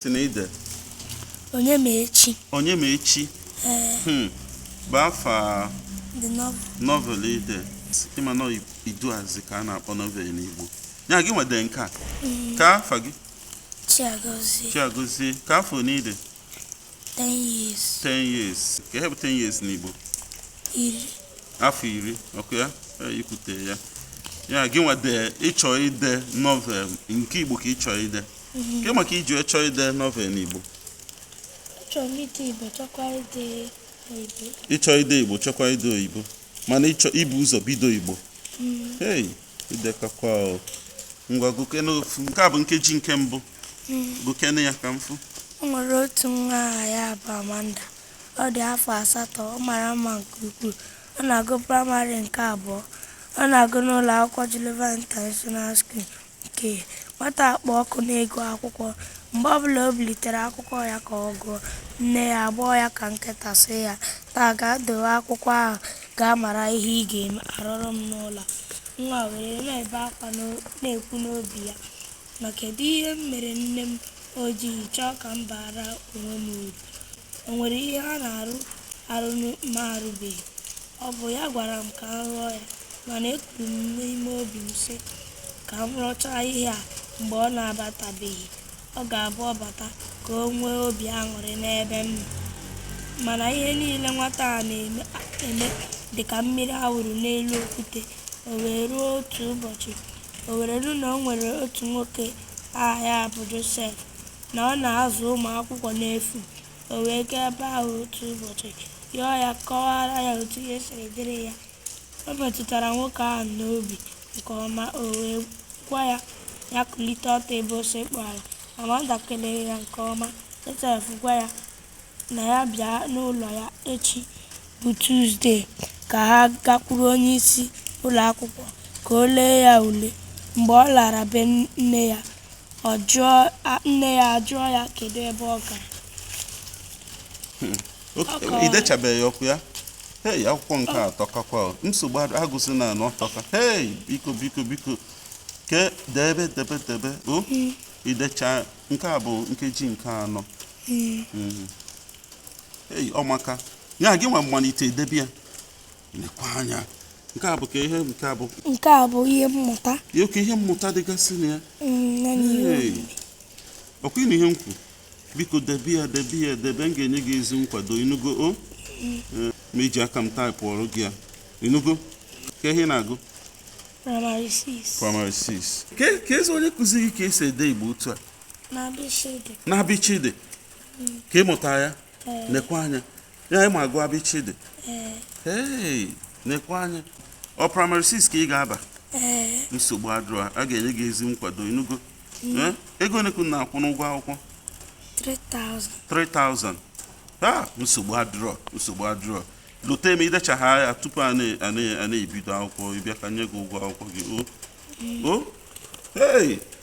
sị na i de onye ma echi onye ma echi ee hmm. bụ afa the novel novel i de ị ma na iduazị ka a na-akpọ novel n'igbo ya gịnwa de nke a mm. ke afa gị chiagozie chiagozie ke afọ ne ị dị 10 years 10 years ke ihe bụ 10 years n'igbo iri afọ iri ọkwa ya i kwute ya ya gịnwa de ị chọ ide novel nke igbo ka ị chọ ide Ke maka i ji chọọ ide novel n'Igbo? Achọrọ m ide Igbo chọkwa ide oyibo. Ị chọ ide Igbo chọkwa ide oyibo mana ị chọ ibu ụzọ bido Igbo. Mm. Hey, i dekakwa o. Ngwa gụkene ofu nke a bụ nkeji nke mbụ. Mm. Gụkene ya ka m fụ. O nwere otu nwa aha ya bụ Amanda. Ọ dị afọ asatọ, ọ mara mma nke ukwuu. Ọ na-agụ praịmarị nke abụọ. Ọ na-agụ n'ụlọ akwụkwọ Geneva International School. Ike, Nwata a kpụ ọkụ n'ịgụ akwụkwọ. Mgbe ọbụla o bulitere akwụkwọ ya ka ọ gụọ, nne ya agbọọ ya ka nkịta sị ya, Taa gaa dowe akwụkwọ ahụ gaa mara ihe ị ga-eme, arụrụ m n'ụlọ a. Nwa a were na-ebe akwa na-ekwu n'obi ya ma kedụ ihe m mere nne m o jighị chọọ ka m baara onwe m uru. O nwere ihe ha na-arụ arụ m arụbeghị. Ọ bụ ya gwara m ka m rụọ ya, mana ekwuru m n'ime obi m sị, ka m rụchaa ihe a mgbe ọ na-abatabeghị. Ọ ga-abụ ọ bata ka o nwee obi aṅụrị n'ebe m nọ. Mana ihe niile nwata a na-eme dị ka mmiri a wụrụ n'elu okwute. O wee ruo otu ụbọchị, o were nụ na o nwere otu nwoke aha ya bụ Josef, na ọ na-azụ ụmụ akwụkwọ n'efu. O wee gaa ebe ahụ otu ụbọchị yọọ ya kọwara ya otu ihe siri dịrị ya. O metụtara nwoke ahụ n'obi nke ọma, o wee gwa ya ya kulite ọtọ ebe o sekpu ala. Amanda kelere ya nke ọma. Josef gwa ya na ya bịa n'ụlọ ya echi bụ Tuzdee ka ha gakwuru onye isi ụlọ akwụkwọ ka o lee ya ule. Mgbe ọ lara be nne ya, Ọ jụọ a- nne ya ajụọ ya kedu ebe ọ gara. Ọ kọwa. i dechabeghị ọkwa ya hei akụkọ nke a tọkakwa o. nsogbu ad- agụzina na ọ tọka hei biko biko biko ke debe debe debe o i decha nke a bụ nkeji nke anọ Mhm. hei ọ maka ya gịnwa malite debe ya lekwa anya nke a bụ kee ihe nke a bụ nke a bụ ihe mmụta oke ihe mmụta dịgasị na ya mm, ọkwa ị nụ ihe m kwu biko debe ya debe ya debe m ga-enye gị ezi nkwado ị nụgo o mm. eh, m eji aka m taịpụọrọ gị ya ị nụgo kee ihe ị na-agụ primary 6 primary 6 keezi onye kụziiri gị ka e si ede igbo otu a na abịchịdị ka ị mụta ya eh. nekwa anya ya ị ma agụ abịchịdị ee nekwa anya ọ primary 6 ka ị ga-aba nsogbu adịrọ a ga-enye gị ezi nkwado ị nụgo mm. ego ole ka unu na-akwụ n'ụgwọ akwụkwọ 3000 a nsogbu adịrọ nsogbu adịrọ lote m i dechaa ya tupu a na-ebido akwụkwọ ị bịa ka m nye gị ụgwọ akwụkwọ gị o mm. o hey